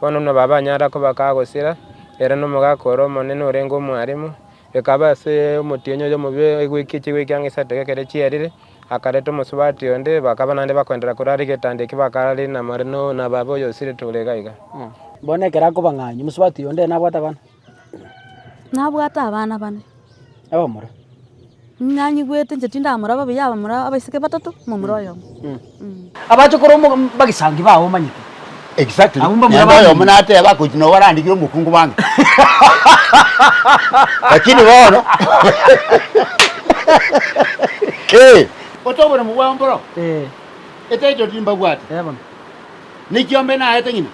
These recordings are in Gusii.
Bono nabo abanyara koba kaa gosira, ere nomogaaka ore omonene orenge omwaremu. Ekaba ase omotienyi oyo omobe egwiki echigwiki ang'e isato gekero chierire, akareta omosubati onde, bakaba naende bakoendera korwa are egetanda ekio bakare namore na baba oyo osiretwe ore iga iga. Bono ekero akoba ng'ai, omosubati onde nabwate abana. Nabwate abana bane. Abamura. Nanyigwete inche tindamura babuya abamura abaiseke batato momura oyomo. Abachokoro bagesangi bao omanyete. Exactly. Abwo mbamura Nende oyomo bamenya. nateba akochi nobo arandikire omokungu bwange. Lakini bono. Eh. Ote oboremu bwao mboro. Eh. Etitle timbabwati. Eh bono. Ne kiombe naete ng'ina.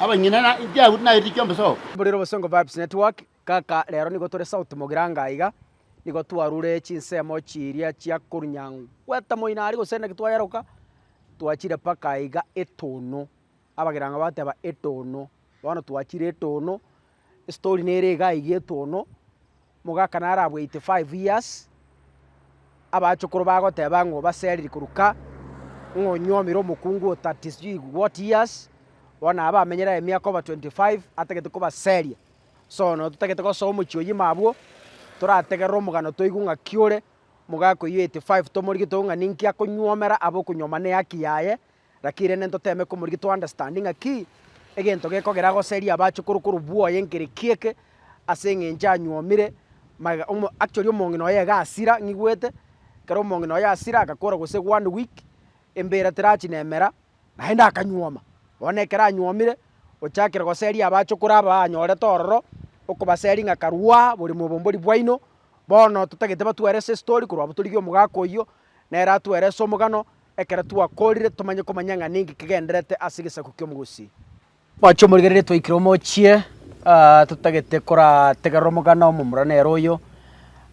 abanyene na Chiayahudi nairiri chiombe sobo. Mburira obosongo Vibes Network, kaka rero nigo tore sauti mogira anga aiga, nigo twarure chinsemo chiria chia korunyangweta moino aria gose naki twayeroka, twachire mpaka aiga etono, abagira anga bateba etono, bono twachire etono. Story nere iga iga etono, omogaka naro abwo 85 years, abachokoro bagoteba ng'o baseriri korwa ka, ng'o onyuomire omokungu o 30 sijui what years, bono aba amenyere aye emiaka over 25 atagete kobaseria. Sono totagete gosoa omochie oyima abwo, torategerere omogano toigwe ng'aki ore, omogaka oyio 85 tomorigie toigwe ng'a ninki akonyuomera abe okonyuoma na ehaki yaye, Lakini rende ntoteme komorigia to understand ng'aki egento gekogera agoserie abache korwa korwa bwoye engereki eke ase eng'encho anyuomire magega omo actually omong'ina oye iga asira ng'igwete ekero omong'ina oye asira agakora gose one week embera terachi na emera naende akanyuoma. Bono ekero anyuomire ochakire goseria abache okore aba anyorete ororo okobaseria ng'a karwaa bore mobombori bwaino bono totagete batwere ase estori korwa abwo torigia omogaka oyio nere atwere ase omogano. ekero twakoorire tomanye komanya ng'a ninki kegendererete ase egesaku ki'omogusi. Mwache omorigererie twaikire omochie, totagete korategerera omogano omomura nere oyo.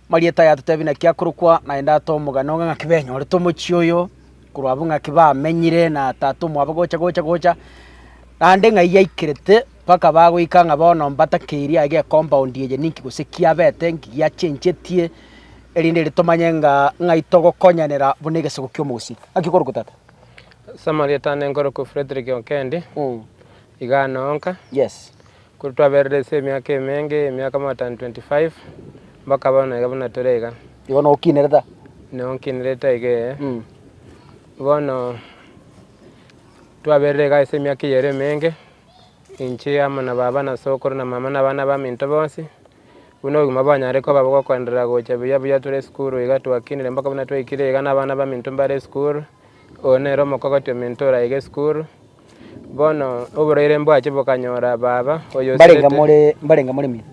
Marieta aye atotebie naki akorokwa, naende atoe omogano ng'a ng'aki benyorete omochie oyo, korwa abwo ng'aki bamenyire na tata omwabo gocha gocha gocha, naende ng'ai yaikerete. Mpaka bagoika ng'a bono mbatakeirie aye gecompound eye ninki gose kiabete, nki giachenchetie, erinde ere tomanye ng'a ng'ai togokonyanera buna egesaku ki'omogusii. Ng'aki okorokwa tata? Ase amarieta ane nkorokwa Fredrick Okendi, iga ane onka. Yes. Korwa twaberire ase emiaka emenge, emiaka more than twenty five, mpaka bono iga buna tore iga. Igo noo okinerete aa? Noo nkinerete aiga ee. Bono twaberire iga ase emiaka eyere emenge. Inche amo na baba na sokoro na mama na abana abaminto bonsi, buna obogima bwanyare koba bo gokoenderera gocha buya buya tore esukuru iga twakinire mpaka buna twaikire iga na abana abaminto mbare esukuru. Oyo nere omokogoti ominto oraige esukuru. Bono oboraire mbwache bokanyora baba oyo o Mbarenge Sirete. more, mbarenge more min.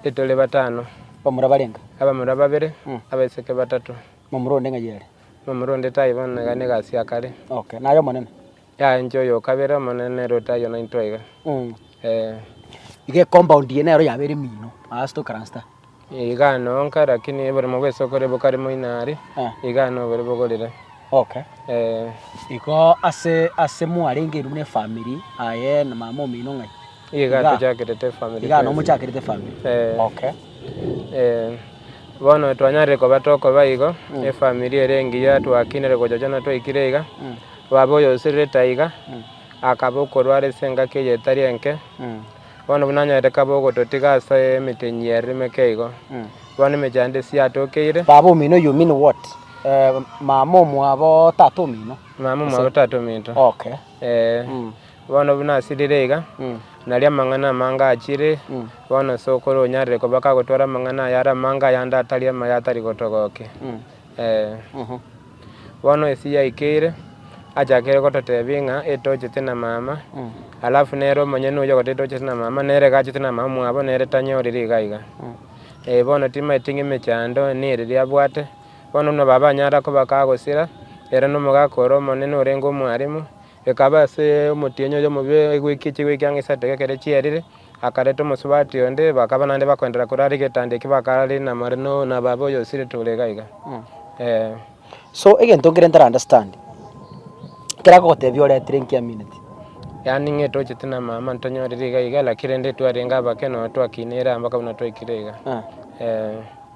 Etore batano, Bamura barenga. abamura babere, Mm. abaiseke batato. Mamura onde ng'ai ere. Mamura onde taibo, iga negasi ya kare. Okay. Naye omonene. Yaye inche oyokabere omonene nere otaiyo naintwe iga. Ee. Iga ecompound eye nero yaba ere emino aa ase tokaransta. Iga noo nka lakini oboremo bwa esoko ere bokare moino aria, iga noo bore bogorire. Okay. Ee. Igo ase ase mwarenge inwe buna efamiri aye na mama omino ng'ai? Iga tochakerete efamiri. Iga noo mochakerete efamiri. Ee. Okay. Ee. Bono twanyarire koba tokoba igo, efamiri ere engiya twakinire gochochana twaikire iga, Babe oyosererete aiga, akabe okorwara ase engaki eye etari enke, bono buna anyorete kabe ogototiga ase emitenyi y'ereremeke eigo, bono emechie yane tesiya atokeire. Baba omino you mean what? Mama omwabo tata omino? Mama omwabo tata ominto. Okay. Ee. Bono buna asirire iga, nario amang'ana amange achire, bono sokoro onyarire koba kagotwara amang'ana aya are amange ayande atari amaya atari gotogokia. Ee. Bono esegi yaikeire, achakire gototebia ng'a etochete na mama, alafu nere omonyene oyio ogoteba etochete na mama, nere gachete na mama mwabo, nere tanyorire iga iga. Ee, bono timaeti ng'a emechando neriria abwate, bono buna baba anyare koba kagosira, ere nomogaka ore omonene orenge omwalimu. Ekaba ase omotienyi oyo omobe egweki chigweki ang'e isato gekero chierire, akareta omosubati onde, bakaba naende bakoendera kore are getanda eki bakararire na more na babe oyo osiretwe ore iga iga. Ee. So egento nkere ntara understand, ekero agogotebia oretire nki amineti? Yaani ng'e tochete na mama ntonyorire iga iga lakini rende twarenge abake nonya twakinire ambaka buna twaikire iga. Ee.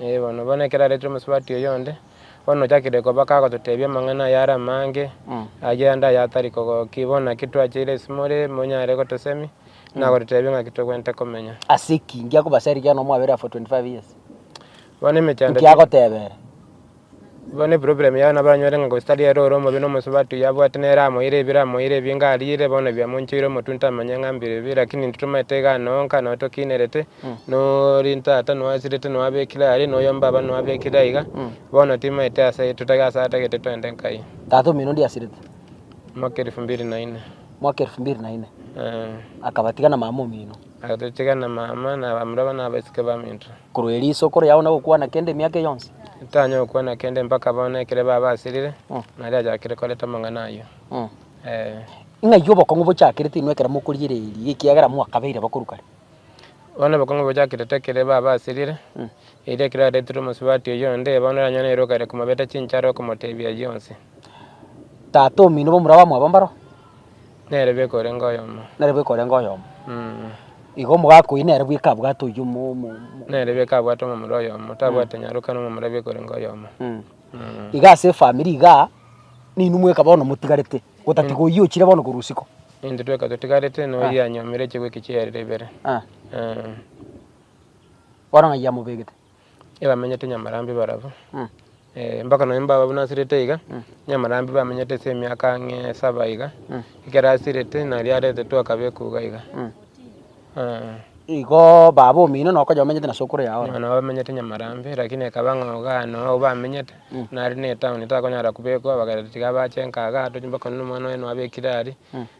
Ee bono, bono ekero aretire omosubati oyonde, bono ochakire koba kagototebia amang'ana aya are amange, ayio ande aya atari kogokia. Bono naki twacheire isimo ere monyare gotosemi, na gototebia ng'aki togwenerete komenya. Ase ki? Inki akobacha rigiya nomwabere afore 25 years? Bono emechando Inki tiri- agoteba ere? Igo neproblem yao nabo aranyore ng'a gose tari ere ore omobe na omosubati oyio abwate nere amoire ebiro amoire ebinga ariire bono biamonchoire omotunte amanye ng'a mbire bibe lakini intwe tomaete egano onka noo tokiinerete nori ntata noasirete noabekire aria noyo mbaba noabekire aiga bono timaete ase totage ase atagete twende nkai. Tata omino onde asirete. Mwaka elfu mbili na inne. Mwaka elfu mbili na inne. Akabatiga na mama omino. Agatotiga na mama na abamura bane abasike baminto. Korwa erio ise okore yao na gokwana kende emiaka eye yonsi? Ntanyare gokwana kende mpaka bono ekero babasirire, nario achakire koreta amang'ana ayio. Ee. Ng'ai obokong'u bochakerete inwe ekero mokorigereria, ekiagera mwakabeire bakuru kare? Bono obokong'u bochakerete ekere babasirire, erio ekero aretirwe omosubati oyonde, bono oranyore na eroka ere komobeta chinchara okomotebia ayio yonsi. Tata omino bomura bamwabo mbaro? Nere bweka orenge oyomo. Nere bweka orenge oyomo. Igo omogaka oyio nere bweka abwate oyio mo- mo- mo- Nere bweka abwate omomura oyomo, tabwate mm. nyaroka na omomura bweka orenge oyomo. Mm. Mm. Iga ase efamiri igaa, ninwe mweka bono motigarete, gotatiga mm. oyio ochire bono korwa usiko. Intwe tweka totigarete na oyio ah. anyomire chigwe echi chiarire ibere. Ah. Ah. Bono ng'ai yamobegete? ebamenyete Nyamarambi barabwo, mpaka nonya mbababu nasirete iga, Nyamarambi bamenyete ase emiaka ang'e saba iga, ekero asirete nario aretetwe akabekwa iga iga, eeh. Igoo baba omino noo okonya omenyete na sokoro yago ororo. Nabo bamenyete Nyamarambi lakini ekaba ng'a iga aye noo bamenyete, nare na etown takonyara kobekwa, bagera tiga bache nkaga, tochi mpaka nonya omwana oye noo abekire aria.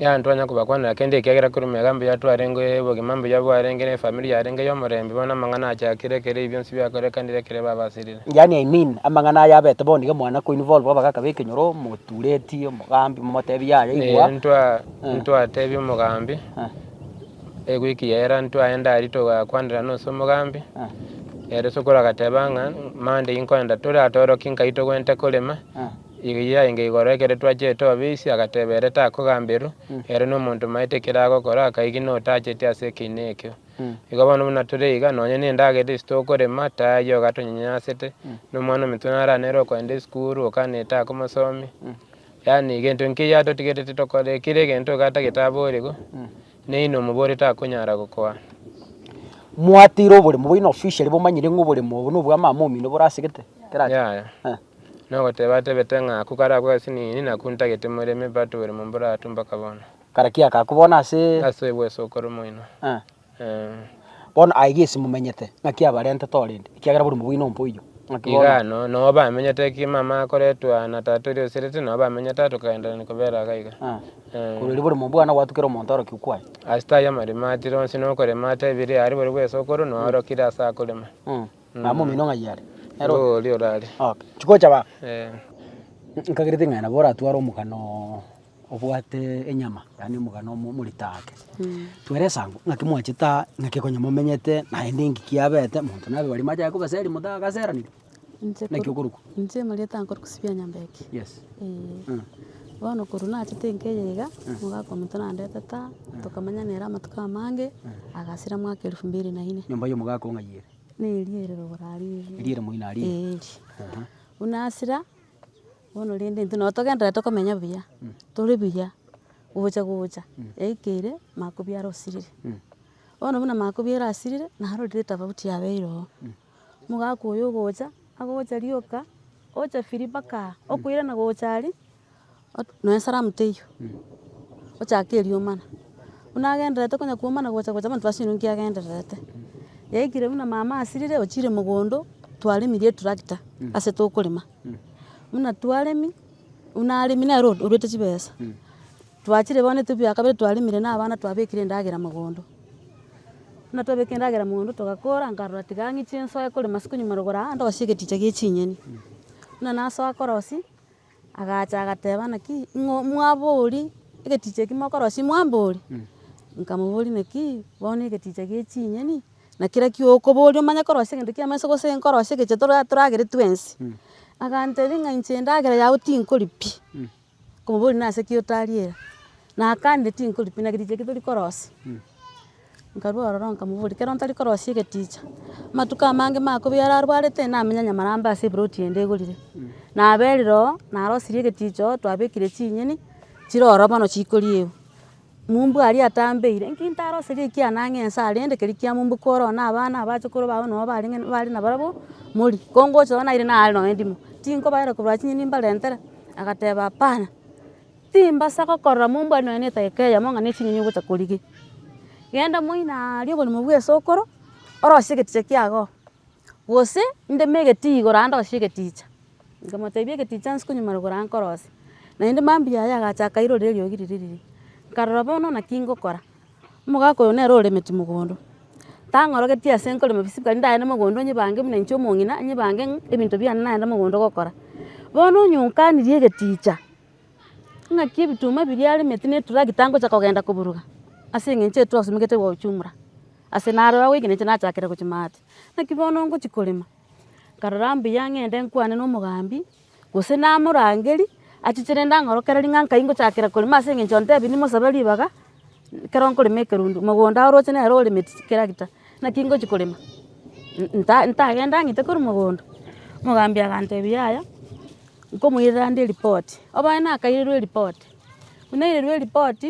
Yaani twanya kobakwanera kende ekiagera korwa emegaka mbuya twarenge obogima mbuya bwarenge ne efamiri yarenge y'omorembe bono amang'ana achakire ekero ebi bionsi biakorekanire ekero babasirire. Yaani I mean, amang'ana aya abete bono nigo mwana koinwa bono bwa bagaka b'ekenyoro, motureti, omogambi, momotebia yaya igwa. Ee, ntwa, Eh. ntwatebia omogambi, Eh, ewiki yaera ntwaye ndari togakwanera nonsi omogambi, eh, ere sokoro agateba ng'a Monday inkoenda tore atoroki nkaitwe gwente korema, eh. Erio yaenga igoro ekero twachete obisi, agateba, Ere takogamberwa, ere nomonto omaete ekero agokora, akaigwa notacheti ase ekeina ekio. Igo bono buna tore iga, nonye nendagera isi tokorema, tayio ogatonyanyasete, nomwana ominto nara nere okogenda esukuru, okana etakomosomia, yaani egento inki eyio atotigerete tokore, kera egento iga tagete aborigwe, neyi nomobori takonyara gokoa. Mwateire oboremo bwaino officially bomanyire ng'a oboremo obo nobw'amaama omino bore asegete? Kerache. Yaya. Eh. Nogoteba atebete ng'a aku karakwe ase nini, na aku ntagete more emepata obere momboro aa tu mpaka bono. Kare ki akaku bono ase. Ase obweso okoro moino. Ee. Bono aye gesi momenyete, ng'aki abarentete oo rende? Ekiagera bori mobwine ompoiyo. Ng'aki bono. Igano, noo bamenyete eki mama akoretwa na tata oria oserete, noo bamenyete aa tokagendererania kobera iga iga. Ee. Korwa riria bori mobwana gwatukera omonto aro ki okwaye. Ase tari amaremo atire onsi nokorema ata ebiri aare bori bweso okoro, noo arokire ase akorema. Mama omino ng'ai are? Nere o- Oria orare. Okay. Chigocha baba. Eh. Nkagere ting'ai nabo oratware omogano obwate enyama, yaani omogano omo- omorito ake. Twara esango, ng'aki mwachete aa, ng'aki konya momenyete, naende engki kiabete, monto nabe baria machaka kobaseri monto agaseraniri. Inche Naki korwa- okorokwa. Inche omanyete nkore kosibia nyomba eke. Yes. Eeh. Mm. Bono korwa nachete enka eye iga, omogaka omonto nandetete aa, tokamanya nere amatuko amange, agasira mwaka elfu mbili na ine. Nyomba ya omogaka ong'ai ere? Neri ere rogoro aria eri. Eri ere moino aria eri. Eri. Aha. Buna asira, bono rende intwe nabo togenderera tokomenya buya, tore buya gocha gocha, yaikeire makobia are osirire. Bono buna makobia are asirire, naro riria etafauti yabeire oo. Omogaka oyo ogocha, agocha rioka, ocha firii mpaka aa, okoirana gocha aria. nonya salamu teiyo, ochake eriomana, buna agendererete konya komana gocha gocha abanto basio nki agendererete. Yaikire buna mama asirire ochire mogondo, twaremirie eturakita ase tokorema, buna twaremi, buna aremi nere oruete chibesa, twachire bono etubi ya kabere twaremire na abana twabekire endagera mogondo. Buna twabekire endagera mogondo togakora nkarora tiga ng'iche nsoe korema ase konywa marogoro aa ndosie egeticha gie chinyeni. Buna nasoa korosia. Agacha agateba, Naki ng'o mwabori egeticha eki mokorosia mwambori? Nkamoboria, Naki bono egeticha gie chinyeni, na kera kiokobori omanye korosia egento kiamo ense gose nkorosie egecho tora toragere twensi. Agantebia ng'a inche endagera yao tinkori pi. Nkomoboria, Nase ki otariera? Nakanire tinkori pi, na egeticha eki tori korosia. Nkarua ororo nkamoboria, ekero ntari korosia egeticha, amatuko amange makobi yare arwarete namenya nyamarambe ase eploti ende egorire, naberire oo, narosirie egeticha oo, twabekire chinyeni, chire ororo bono chikoria egu, mumbu aria atambeire, nki ntaroseria ekiagera nang'e ense aria rende keri kia mumbu kore oo na abana abache korwa abana nabo barenge bare nabarabwo, morie, kongocha oo naire nare nonye ndimo, tinkobaera korwa chinyeni mbarentere, agateba apana. Timbasa gokorora mombua nonya ne edaika eyemo ng'a ne chinyonyi ogocha korige. Genda moino aria oborimo bwa esokoro, orosie egeticha kiago, gose ndeme egetii igoro ande orosie egeticha. Nkamotebia egeticha nse konyuma rogoro anga nkorosie. Naende mambia aye agacha akairorera eriogi riria riria. Nkarora bono naki ngokora. Omogaka oyo nere oremeti mogondo. Tang'orogetie ase nkorema bisibi kare ndagende mogondo nyibange buna inche omong'ina, nyibange ng'a ebinto biane nagende mogondo gokora. Bono onye onkanirie egeticha. Ng'aki ebituma biria aremete na eturakita ngocha kogenda koburuga, ase eng'encho eye twasumegete gochumora, ase naro agoikerente nachakera gochia maate. Naki bono ngochia korema, nkarora mbuya ng'ende nkwane na omogambi, gose namorangerie, achichire ndang'orokereria ng'a nkai ngochakera korema ase eng'encho ontebia nimosabe ribaga. Ekero nkorema ekerundu, mogondo orooche nere oremeti chitractor, naki ngochia korema, nta ntagenda ng'ite korwa mogondo. Omogambi agantebia yaya, nkomoirera nde eripoti. Oboe nakairerwa eripoti, buna nairerwa eripoti,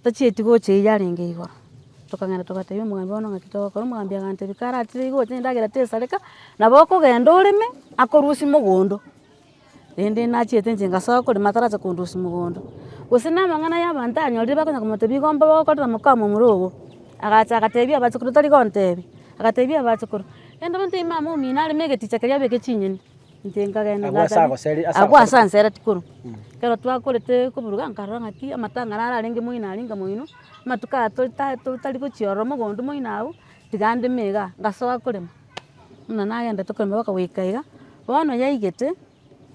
tachieti gocha eyio yarenge igoro, tokagenda togatebia omogambi bono ng'aki togokora, omogambi agantebia karatire iga oche endagera tesareka, nabo okogenda oreme akorusia mogondo. rende nachete inche ngasoa korema atarache kondosia mogondo. Gose na amang'ana ya abanto anyorire bakonya komotebia igo mba okorire omokama omoro ogo, agacha agatebia abachokoro tari gontebia, agatebia abachokoro, rende omonto oyo mama omino areme egeticha keria abeke ching'eni, inche nkagenda Agwo ase agoseri- ase agwo ase ansera tikoro. Ekero twakorete koburuga nkarora ng'aki amatang'ana ararenge moino aria inga moino, amatuko aya tori ta- to- tari gochia ororo mogondo moino abwo, tiga ndeme igaa, ngasoa korema. buna nagendete korema boka goika iga, bono yaigete,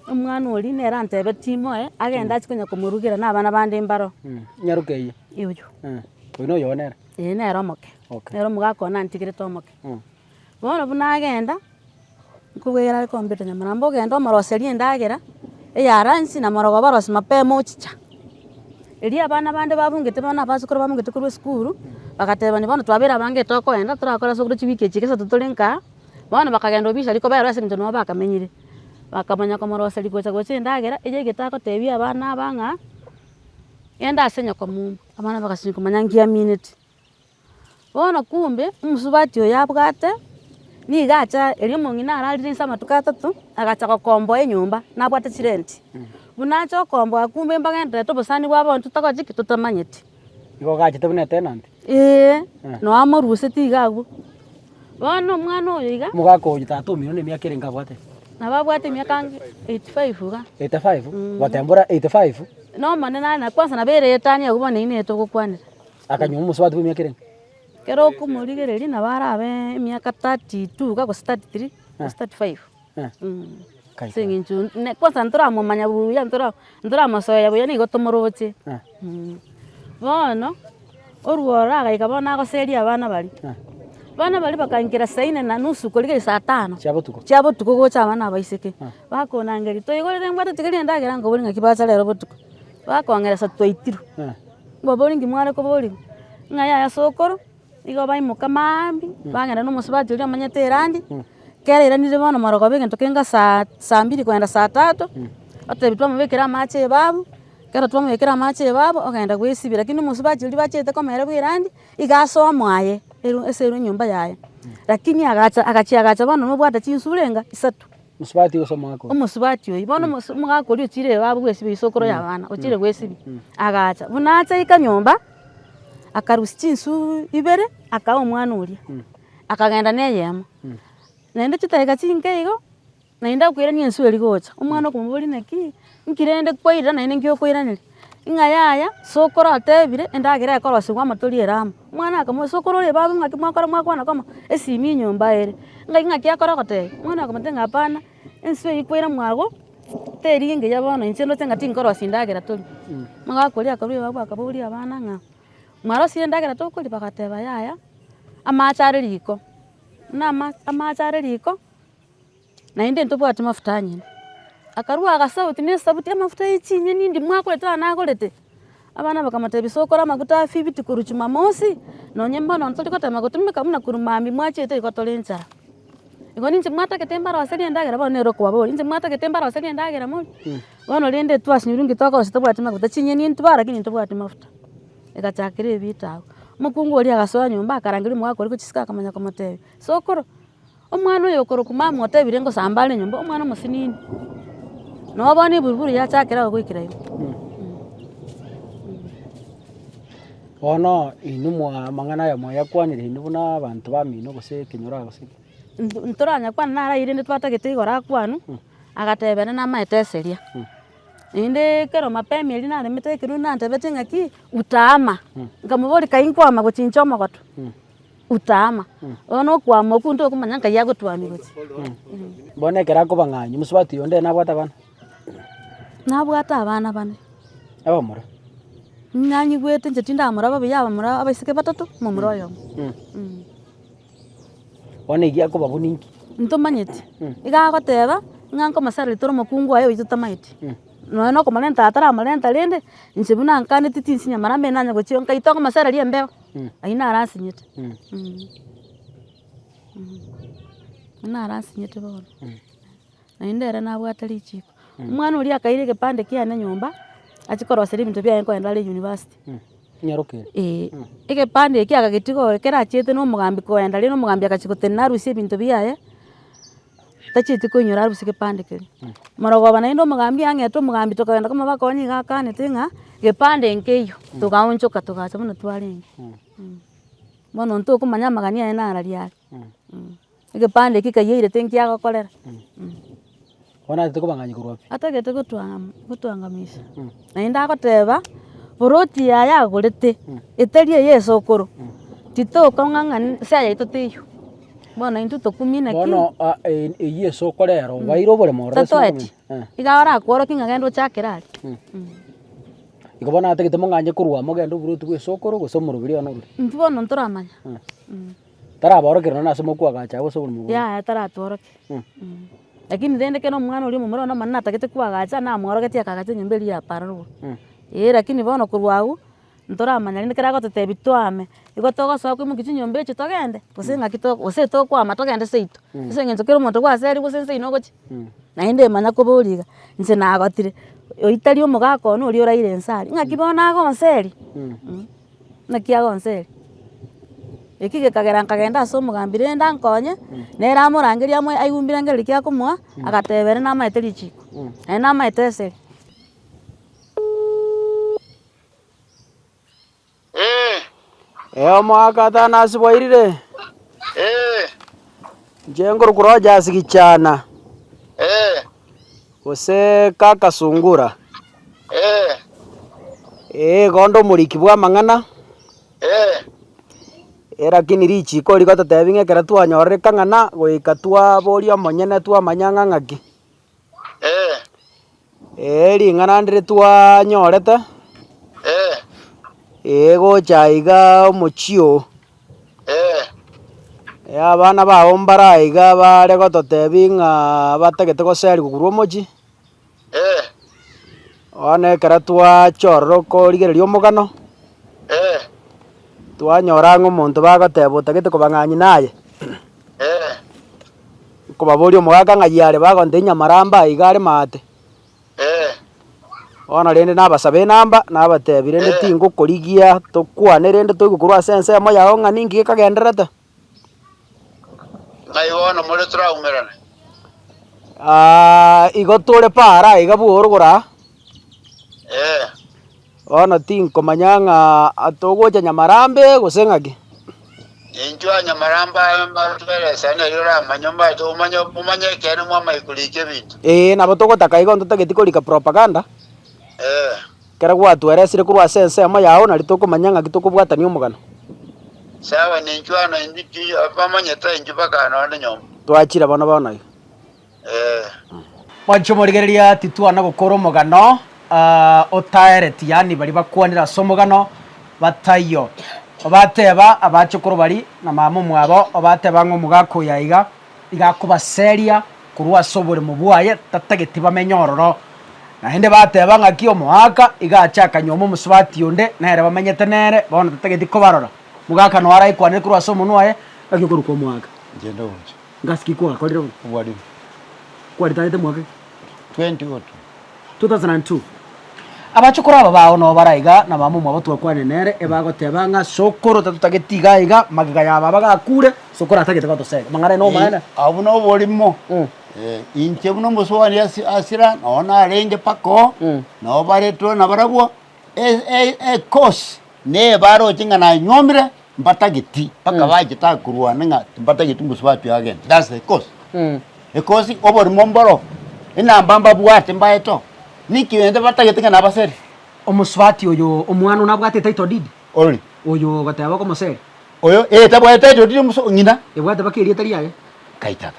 omwana oria nere antebe timoe, agende achi konya komorugera na abana bande mbaro. Nyaruka eye. Oyio. Oyio noyo one ere. Ee nere omoke. Okay. Nere omogaka one antigerete omoke. Bono buna agenda, nkobwegera are kombeta nyamana, mbu genda omoroserie endagera, eyara inse na morogo obarose mapema ochicha. Erio abana bande babungete bono abasokoro babungete korwa esukuru, bagatebania bono twabera abange tokoenda torakore ase okore chiwiki echi ekesato tore nkaa, bono bakagenda obisiari koberwa ase eng'encho nigo bakamenyire. Bakamanya komoroseria gocha gocha endagera eywo egete agotebia abana aba ng'a, genda ase nyokomumba, abana bagasimeka manya nkiamineti. Bono kumbe omosubati oyo abwate nigo acha erio omong'ina ararire inse amatuko atato agacha gokomboa enyomba nabwate chirenti, buna acha okomboa kumbe mbagendererete obosani bwabo abwo totakoche ki totamanyeti. Nigo ogachete buna etenant? Eeh, na oamorweseti iga agwo. Bono omwana oyo iga. Omogaka oyo tata omino ne emiaka ere inga abwate? Nabo abwate emiaka anga eighty five iga. Eighty five? Gotembora eighty five? Nomonene are na kwansa nabo ere etani agwo bono eyio nere togokwanera. Akanywa omosubati bw'emiaka erenge. Ekero okomorigereria nabo arabe emiaka thirty two iga gose thirty three gose thirty five. Ase eng'encho ne kwansa ntoramomanya buya ntora ntoramosoe buya nigo tomoroche. Bono, orwo ororo agaika bono nagoseria abana baria, abana baria bakankera saa inne na nusu korigereria saa tano. Chia botuko. Chia botuko gocha abana abaiseke. Bakonangeria, toigorere mbwate tiga rende endagera nkoboria ng'aki bacha rero botuko. Bakong'eresa twaitirwe. Mbabori inki mware koboria? Ng'a yaya ase okoro, igo baimoka maambia, bagenda na omosubati oria omanyete erandi, kera eiranire bono marogoba egento keinga saa saa mbiri kogenda saa tatu, otebi twamobekera amache ebabu, kera twamobekera amache ebabu, ogenda goesibia, rakini omosubati oria bachete komoira bwa erandi, iga ase omo aye, eru ase eru enyomba yaye, rakini agacha agachia agacha bono nobwate chinsure enga, isato. Mosubati gose omogaka oyio? Omosubati oyio. Bono omos- omogaka oria ochire ewabo bw'esibio isokoro y'abana, ochire bw'esibio, agacha. Buna achaika nyomba, akarusia chinswe ibere, akaha omwana oria, akagenda na eyemo. Naende chidakika chinke igo, naende akoiraneria enswe eria gocha, omwana okomoboria naki, nki rende kwaira naende nki okoiraneria? Ng'a yaya, sokoro atebire endagera ekorosirwe amatori ere amo. Omwana akamoboria, sokoro oria babu ng'aki mwakora mwakwana koma esimi enyomba ere? Ng'ai ng'aki akora goteba? Omwana akamotebia ng'a hapana, enswe eye kwaire mwago teri engiya bono inche ndoche ng'a tinkorosia endagera toria. Omogaka oria akarwa ebabu akaboria abana ng'a, mwarosirie endagera tokoria? Bagateba yaya, amache are riko, buna ama amache are riko. Naende ntobwati mafuta anyene. Akarua agasauti na esabuti y'amafuta ye chinyeni endi mwagorete aa nagorete. Abana bakamotebia, sokora amaguta a fifiti korwa Jumamosi, nonye mbono ntori gotema gotumeka buna korwa mambia mwachiete igo tore enchara. Igo ninche mwatagete mbaroserie endagera bono nere okobabori, ninche mwatagete mbaroserie endagera morie, bono rende twasinyorwa nki tokorosia tobwati maguta, chinyeni ntibaa lakini ntobwati mafuta. Egachakera evita agwo. Mokungu oria agasoa nyomba akarangeria omogaka oria gochisika akamanya komotebia, sokoro. Omwana oyo okorokwa mama otebire ngosamba are nyomba omwana omosinini. Noo bono eburuburu yachakire ago goikera igo. Bono inwe mwa amang'ana aya mwayakwanire inwe buna abanto bamino gose ekenyoro aa gose ki? Nto- ntoranyakwane naro aywo rende twatagete igoro akwanwe, agateba ere namaete eseria. Naende ekero mapema erio naremete ekerua nantebetie ng'aki, utama. Nkamoboria kai nkwama gochincha omogoto. Utama, oyo nokwama okwo ntokomanya nkaye agotwamia gose. Bono ekero akoba ng'anyi, mosubati onde nabwate abana? Nabwate abana bane. Abamura? Nanyigwete inche tindamora babuya abamura abaiseke batato, omomura oyomo. Bono egia akoba abwo ninki? Ntomanyeti. Iga agoteba, ng'a nkomosareri toro omokungu oye oyi totameti. Nonya nokomorenta ataramorenta rende, inche buna nkaneti tinsinyamara mbe nanye gochia oo, nkai tokomosareri embeo. Ayio naro asinyete, ayio naro asinyete bono, naende ere nabwate richiko. Omwana oria akaira egepande kiane nyomba, achie korosera ebinto biane korende are university. Ee, egepande ekio agagetiga oo ekero achiete na omogambi koenda, rirorio omogambi agachia gotenena arusie ebinto biaye. tachieti koinyora aria bosio gepande keria. Morogoba naende omogambi ang'ete omogambi tokagenda komobaa konya nigo akanete ng'a gepande nkeiyo, togaonchoka togacha buna twarenge. Bono intwe okomanya amagani aye nara ria are, egepande ekio kaiyairete nkiagokorera. Bono atagete kobang'anyia korwa pi? Atagete gotwang'ama gotwang'amisha. Naende agoteba, Ploti yaye agorete, etari eye esokoro, titokong'ang'ana nse yaito teiyo. Bono intwe tokumina ki? Bono a- e- eyio ase okorera obaeire oboremo ororo ase Tatoeti. omonene. Eh. Iga barakworokie ng'a genda ochakere aria. Igo bono atagete mong'anye korwa amo ogende oburoti bw'esokoro gose omoroberi one orure. Intwe bono ntoramanya. Taraborokire nonya ase omokwe ogacha agwo ase oborimo bwaye. Yaya taratworoke. Mh. Lakini rende ekero omwana oria omomura bono omonyene natagete koagacha, namworogetie akagacha enyomba eria ya pararwo. Mh. Eeh lakini bono korwa agwo, ntoramanya rende ekero agototebi twame, nigo togosoa koimokia chinyomba echio togende, gose ng'aki to gose tokwama togende seito. Mh. Ase eng'encho kera omonto nigo ase aria gose inse ino ogochia. Mh. Naende manya kobori iga, inche nagotire, oyio tari omogaka one oria oraire inse aria, ng'aki bono agonseria? Mh. Naki agonseri. Eki gekagera nkagenda ase omogambi rende ankonye, nere amorangerie amo aigwe mbirangerie riria kiakomoa, agateba ere namaete richiko, naye namaete esegi. Eomo agatana ase bwairire, inche ngorokwa roche ase gichana. Gose k'akasungura? Ee. Ee, igo onde omoriki bw'amang'ana. Ee. Ee, lakini richiiko eri rigototebia ng'a ekero twanyororeka ng'ana goika twaboria omonyene twamanya ng'a ng'aki. Ee. Ee, ring'ana ndire twanyorete. Ee. Ee, gocha iga omochie oo. Ee. Ee, abana bao mbare aiga baare gototebi ng'a batagete goseria kogurwa omochie. Ee. Bono ekero twaacha ororo korigereria omogano. Ee. Twanyora ang'e omonto bagoteba otagete koba ng'anyina aye. Ee. Nkobaboria omogaka ng'ai are bagonte inyamaramba aiga are maate. Ee. Bono rende nabasabe enamba, nabatebi rende Ee. tingokorigia tokwane rende toigwe korwa ase ensemo yao ng'a ninki gekagendererete. Ng'ai bono more toraumerane? Aa, igo tore paara iga bworogoro aa. Ee. Bono tinkomanya ng'a togocha Nyamarambe gose ng'ake. Intwe Abanyamaramba aye mbarotweresa, neri oramanye, omanyete omanye, omanye ekeene mwamanye korika ebinto. Ee, nabo togotaka igo ntotageti korika propaganda. Ee. Ekero gwatweresire korwa ase ensemo yao, nari tokomanya ng'aki tokobwatania omogano. Sawa, ninchwe ano, intwe bamanyete intwe bakaana onde nyomba. Twachire bono bono iga. Ee. Mwanche omorigereria, titwana gokora omogano otaereti, yaani baria bakwanire ase omogano bataiyo. Obateba abachokoro bari na mama omwabo, obateba ng'a omogaka oyo aiga, iga akobaseria korwa ase oboremo bwaye tatageti bamenye ororo. Naende bateba ng'aki omoaka iga ache akanyuoma omosubati onde nere bamenyete nere, bono tatageti kobarora. Omogaka noyo araikwanere korwa ase omonwa oye, Ng'aki okorokwa omoaka? Njende ogocha. Ngasi ki kwakorire bo? obwarimu. Kwaritarete mwaka ki? 2002. 2002. Abachokoro aba bao nao bare aiga, na mama omwabo twakwanire nere, ebe agoteba ng'a sokoro tatotageti iga aiga, magega ya baba gakure, sokoro atagete gotosega. Mang'ana aye nomaene? Eh, Obwo noborimo. Mm. Eh, inche buna omosubani asi- asira, nao narenge mpaka oo, Mm. nao baretwe nabarabwo, e- e- ekosi nebare oche ng'a nanyuomire, mbatageti, bakaba bachitaka korwana ng'a timbatageti gose batue agent. That's the cause. Mm. Because oborimo mboro, enamba mbabwate mbaeto, niki rende batagete ng'a nabaseri? Omosubati oyo omwana one abwate title deed Ori. oyo ogoteba okomoseri Oyo, eh, tabwate title deed omuso- ng'ina. ebwate baka erieta riaye Kai tata.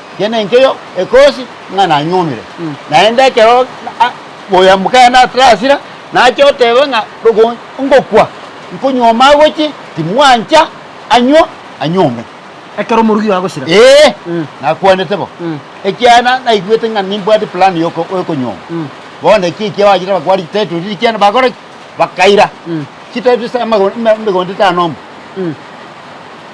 Ekiagera enkeyo ekosi ng'a nanyuomire, naende ekero oyo mokaye natarasira, nache oteba ng'a ngokwa, nkonyuoma agochie, timwancha, anyuo, anyuome. Ekero omorugi oye agosira. Ee, nakwanete bo, ekiagera naigwete ng'a nimbwate plan y'okonyuoma. Bono eki ekiagera bagware title deed ekiagera bakora ki? bakaira chitari chisa amago- eme- emegondo etano mbu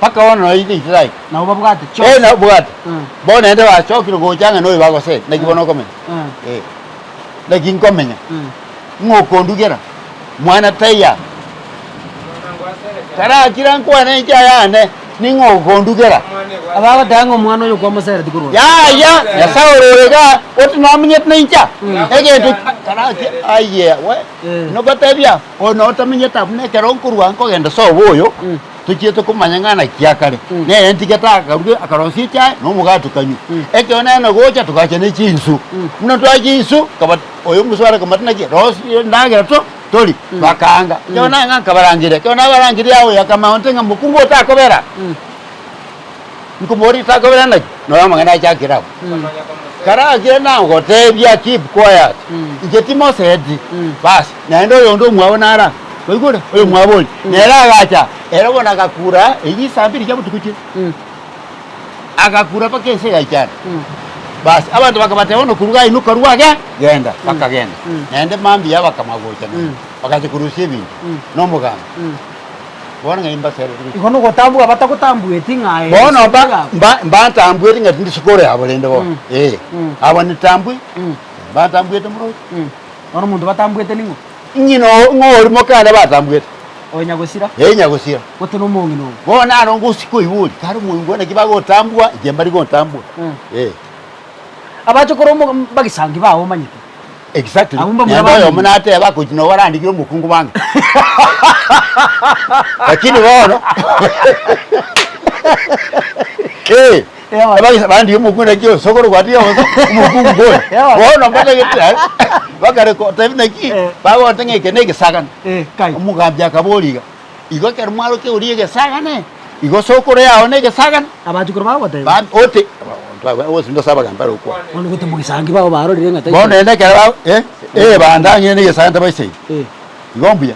bakabona nonya inde itira ime Nabo babwate Eh, chionsi. nabo bwate Mm. bono naende bachokire gocha ng'a noyo bagosee naki bono okomenya Mm. Eh, naki nkomenya Mm. ng'okondugera mwana taiyo aa. Tarakira nkwane enchara yane Ning'o ogondugera? Abagoteba ng'a omwana oyo kwamosera tikorwa. Yaya, Nyasae ore orega, gose nomenyete naincha? Egento karache aye we. Nogotebia, oyo notomenyete abwo nekero nkorwa nkogenda sobo oyo, tochiete komanya ng'a naki akare. Nere ntige takaruge, akarosia echae na omogate okanywa. Ekero nene gocha togacha ne chinsu. Buna twacha insu, nkaba oyo omosuare akamata naki, rosia endagera to. tori, bakaanga. Ekero nanga nkabarangeria, ekero nabarangeria aye oyoka amaonte ng'a mokungu otakobera, nkomoboria takobera naki, na oyo amang'ana ache akire abwo. Kare agire nagoteebia keep quiet, inche timoseti, baas, naende oyonde omwabo nara, mwaigure, oyomwabo oria, nere agacha, ere bono agakura eywo isambiri chia botuko chire. agakura mpaka ense egaichana. Basi abanto bakabateba bono, Kuru gainuka rwage, genda. Bakagenda, naende mambia abakama gocha nonya, bagacha korusia ebinto nomogambi. Bono ng'ai mbasere riko. Igo nogotambwa batagotambueti ng'a ere Bono isiko mba, yabo. mba, mbantambuete ng'a tindi isiko ore abo rende bono. Ee. Abo nitambwe, mbantambuete moroki. Bono omonto batambuete ning'o? Inye no- ng'orimoke ande batambuete, Oyo nyagosira. ee nyagosira. Gote nomong'ina obo. Bono naro ngosika oibori, kare omoigwa naki bagotambua, inche mbari gotambua. Mm. Ee, Abache korwa omo- m- bagesangi bao omanyete. exactly. Abwo mbamura Naende oyomo bamino. nateba akochi nobo arandikire omokungu bange. Lakini bono, ee. Abagisa bande omokungu naki oyo, sokoro gwatiga bosa omokungu ngoyo. Bono mbatagete aye, bakare kotebia naki, bagoteba ng'a eke negesagane. Omogambi akaboria iga, Igo ekero mwarokia oria egesagane, igo sokoro yao negesagane? Abachukuru bagoteba. Oti, Onsi ndase abagambi bare okwana. Bono naende ekero ee, bande ang'e negesagane tabaisaini. Igo mbuya.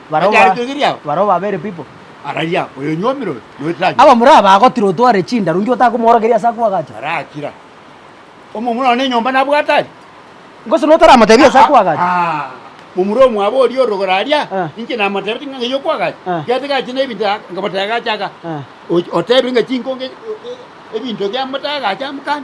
Barabwo Anyare ba- kwegeri ao. barabwo babeire pipo. Araria oyonyuomire oyo, noetire anyuo. Abamura aba agotira otware chindaru, inki otakomoorokeria ase akwagacha? Arakira. Omomura one enyomba nabwate aria. Gose notaramotebia ase akwagacha? Ah, momura omwabo oria orogoro aria, Ah. inche namotebete ng'a ng'ai okwagacha. Ah. Gete gache na ebinto aka- nkamotegacha aka. Ah. Ochi- Otebire ng'a chinkonge e- e- ebinto biamotegacha amokana.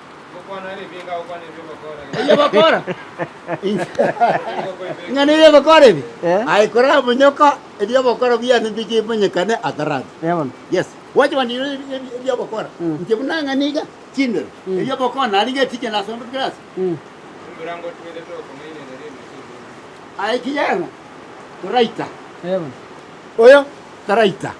Erio bakora ng'a nigo egokora ebi, aye korera omonyoko, ebi'obokoro biane mbikimonyekane atarabwo. Yes, gwacha gwandikirwe ebi'obokoro, inche buna ng'a niga chindero, ebi'obokoro narenge eticha nasondokire ase. Aye kijana, toraita. Oyo taraita.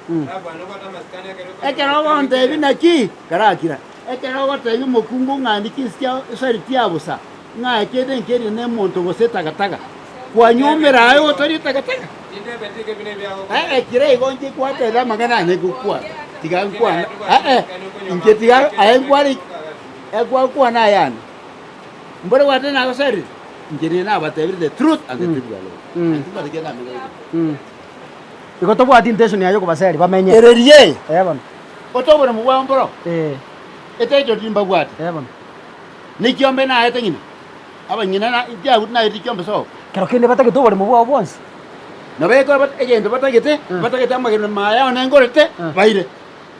Ekero ogontebi naki, karakira. Ekero ogotebia omokungu ng'a andike ense ya Israeli tia bosa, ng'a eke ebenki eria nemonto gose etagataga, kwanyombera aye otari etagataga? Ee, ekero igo inche kwatebia amang'ana ane gokwana, tiga nkwane, ee, inche tiga aye nkwane, ee, kwakwana ayande. Mbore gwateba nagoserire, inche nigo nabatebirie the truth and the truth shall make you free. Anti mbare kera amenye. Igo tobwati intention yaye okobaseri bamenye. Ereria eye. Ee bono. ote oboremu bwao mboro, etaito timbabwate, ne ekiombe naete ng'ina, abanyene na ekiagu naete ekiombe sobo. Kero kende batagete oboremu bwao bwonsi. Na baikora egento batagete, batagete amagena maya one ngorete baire.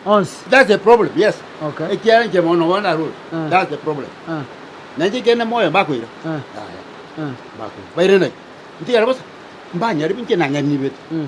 Onsi. That's the problem, yes. Okay. Ekiara inche mono bono narure. Eh. That's the problem. Eh. Na inche kende moyo mbakoira. Eh. Yaya. Eh. Mbakoira. Baire nayo. Ntigare bosa. Mbanyare binche nang'anibete. Mm.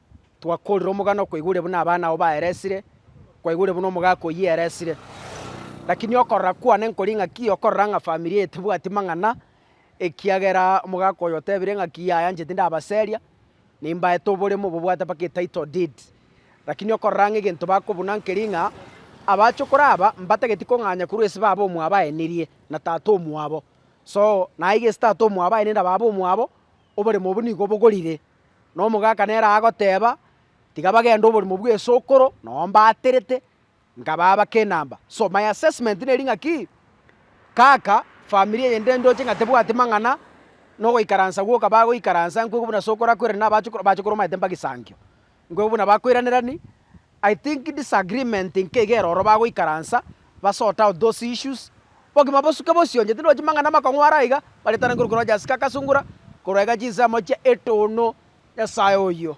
Twakoorire omogano koigure buna abana ao baeresire, kwaigure buna omogaka oyio eresire. Lakini okorora kwane nkori ng'aki okorora ng'a famiri eye tebwati mang'ana, ekiagera omogaka oyo otebire ng'aki yaya inche tindabaseria, nimbaete oboremo bobwate mpaka etitle deed. Lakini okorora ng'a egento bakobuna nkeri ng'a abachokoro aba mbatageti kong'anya korwa ase baba omwabo aenirie na tata omwabo. So, naye gese tata omwabo aenire na baba omwabo, oboremo obwo nigo bogorire. Na omogaka nere agoteba, Tiga bagende oborimo bw'esokoro, nao mbaaterete, nkabaa abake enamba. So my assessment neri ng'a ki, kaka famiri eye nde ndoche ng'a tebwati mang'ana, na ogoikaransa gwoka bagoikaransa, nkwegwe buna sokoro akwerane na abachukoro, abachukoro omanyete mbagisangio. Nkwegwe buna bakoiranerani. I think disagreement nkegere oro bagoikaransa ba sort out those issues bogima bosuke bosionye tinde ochi mang'ana amakong'u are aiga baretane korwa ekero Jessica akasungura korwa iga chinse amochie etono nyasae oyio